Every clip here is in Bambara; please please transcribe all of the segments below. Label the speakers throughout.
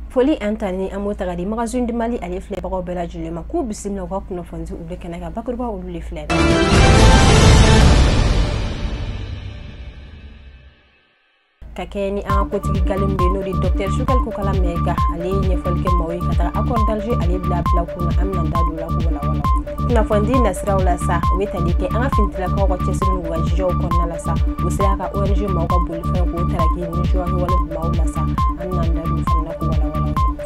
Speaker 1: foli ani tanuni an b'o ta ka di magazine du mali ale filɛbagaw bɛɛ lajɛlen ma k'u bisimila u ka kunnafonidi olu kɛnɛ kan bakuruba olu de filɛ ka kɛɲɛ ni an ka kotigi galen min bɛ n'o de dɔktɛr sogɛli kokala mayiga ale ye ɲɛfɔli kɛ maaw ye ka taga accord d'Alger ale bila bila kun na an bɛna da don o la k'o walawala kunnafonidi nasiraw la sa u bɛ tali kɛ an ka finitilakaw ka cɛsiri n'u ka jijaw kɔnɔna la sa u sera ka ong maaw ka bolifɛn k'o taraki nin jiwa kɛwale maaw la sa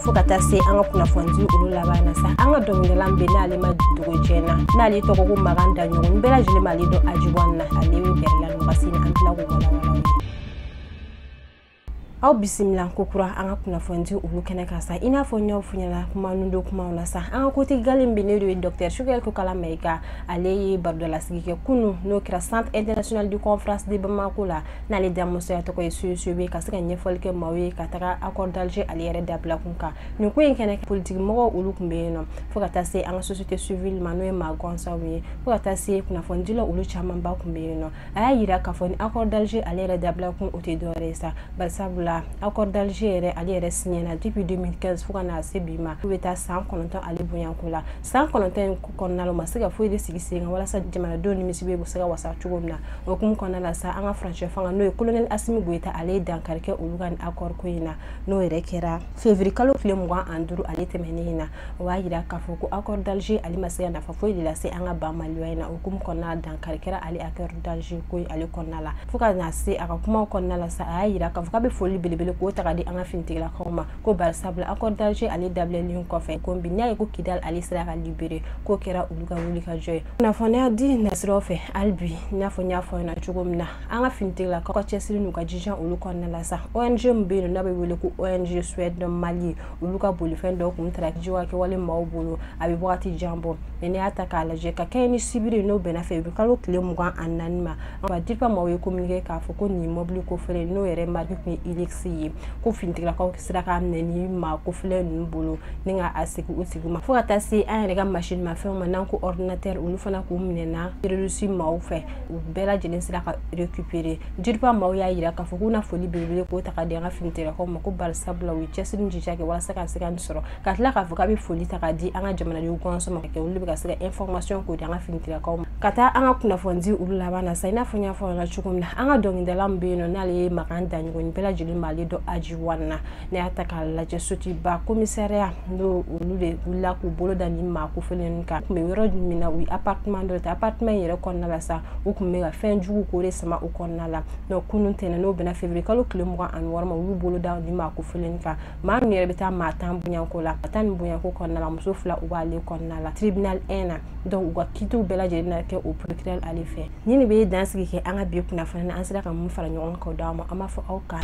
Speaker 1: fo ka taa se an ka kunnafonidi olu laban na sa an ka dɔnkilidala min bɛ n'ale ma dogo jɛn na n'ale tɔgɔ ko makan daɲɔgɔ ni bɛɛ lajɛlen b'ale dɔn aji wan na ale bɛ bɛrɛla nɔgɔsi na an tila k'o walawala aw bisimila kokura an ka kunnafonidi olu kɛnɛ kan sa i n'a fɔ n y'a fɔ aw ɲɛna kuma nundo kumaw na sa an ka kotigi galen min bɛ n'o de ye dɔktɛr sogɛli kokala mayiga ale ye barodalasigi kɛ kunu n'o kɛra centre international de conférence de bamako la n'ale da musoya tɔgɔ ye cicb ka se ka ɲɛfɔli kɛ maaw ye ka taga accord d'Alger ale yɛrɛ dabila kun kan nin ko in kɛnɛ politikimɔgɔw olu tun bɛ yen nɔ fo ka taa se an ka société civile ma n'o ye maa gansanw ye fo ka taa se kunnafonidilaw olu camanba tun bɛ yen nɔ a y'a jira k'a fɔ ni accord d'Alger ale yɛrɛ dabila kun o tɛ dɔwɛrɛ ye sa barisabula accord d'Alger yɛrɛ ale yɛrɛ signena depuis 2015 fo ka na se bi ma o bɛ taa san kɔnɔntɔn ale bɔɲɔgɔnko la san kɔnɔntɔn in kɔnɔna la u ma se ka foyi de sigi sen kan walasa jamanadenw nimisi bɛ se ka wasa cogo min na o hukumu kɔnɔna la sa an ka furancɛ fanga n'o ye kolonɛli asimi goyita ale ye dankari kɛ olu ka nin accord ko in na n'o yɛrɛ kɛra février kalo tile mugan ani duuru ale tɛmɛnen in na o b'a jira k'a fɔ ko accord d'alger ale ma se ka nafa foyi de lase an ka ba maliba in na o hukumu kɔnɔna la dankari kɛra ale accord d'alger ko in ale kɔnɔna la fo ka na se a ka kumaw kɔnɔna la sa a y'a jira k'a fɔ k'a bɛ foli belebele k'o ta ka di an ka finitigilakaw ma ko barisabula accord d'Alger ale dabilalen kɔfɛ ko bi n'a ye ko kidal ale sera ka libéré k'o kɛra olu ka wulikajɔ ye kunnafonidi nasiraw fɛ hali bi i n'a fɔ n y'a fɔ aw ɲɛna cogo min na an ka finitigilakaw ka cɛsiri n'u ka jijan olu kɔnɔna la sa ong min bɛ yen n'a bɛ wele ko ong swedd mali olu ka bolifɛn dɔw kun tara jiwa kɛwale maaw bolo a bɛ wagati jan bɔ mɛ n'i y'a ta k'a lajɛ ka kɛɲɛ ni sibiri n'o bɛnna février kalo tile mugan ani naani ma ka dirpa maaw y'a kominike k'a fɔ ko nin mɔbili kofɔlen n'o yɛrɛ marque tun ye hilux ye ko finitigilakaw sera k'a minɛ nin maa kofɔlen ninnu bolo ni ka a sigi u sigi ma fo ka taa se an yɛrɛ ka masinimafɛnw ma n'an ko ordinateur olu fana k'u minɛna terrorisi maaw fɛ u bɛɛ lajɛlen sera ka récupérer dirpa maaw y'a yira k'a fɔ k'u na foli belebele k'o ta ka di an ka finitigilakaw ma ko barisabula u ye cɛsiri ni jija kɛ walasa ka se ka nin sɔrɔ ka tila k'a fɔ k'a bɛ foli ta k'a di an ka jamanadenw gansan ma kɛ olu bɛ ka se ka information k'o di an ka finitigilakaw ma ka taa an ka kunnafoni di olu laban na sa i n'a fɔ n y'a fɔ aw ɲɛna cogo min na an ka dɔnkilidala min bɛ yen nɔ n'ale ye makan daɲɔgɔ ni bɛɛ lajɛlen b'ale dɔn aji wan na n'i y'a ta k'a lajɛ sotuba komisariya n'o olu de wulila k'u bolo da nin maa kofɔlen ninnu kan u tun bɛ yɔrɔ min na u ye appartement dɔ ta appartement in yɛrɛ kɔnɔna la sa u tun bɛ ka fɛn jugu k'o de sama u kɔnɔna la donc kunun tɛnɛn n'o bɛnna février kalo tile mugan ani wɔɔrɔ ma u y'u bolo da nin maa kofɔlen kan maa min yɛrɛ bɛ taa maa tan bonyanko la ka taa nin bonyanko kɔnɔna la muso fila u b'ale kɔnɔna la tribunal 1 na donc u ka kitiw bɛɛ lajɛlen na kɛ o procureur ale fɛ ni nin bɛ dansigi kɛ an ka bi kunnafoni na an sera ka min fara ɲɔgɔn kan d'aw ma an b'a fɔ aw k'an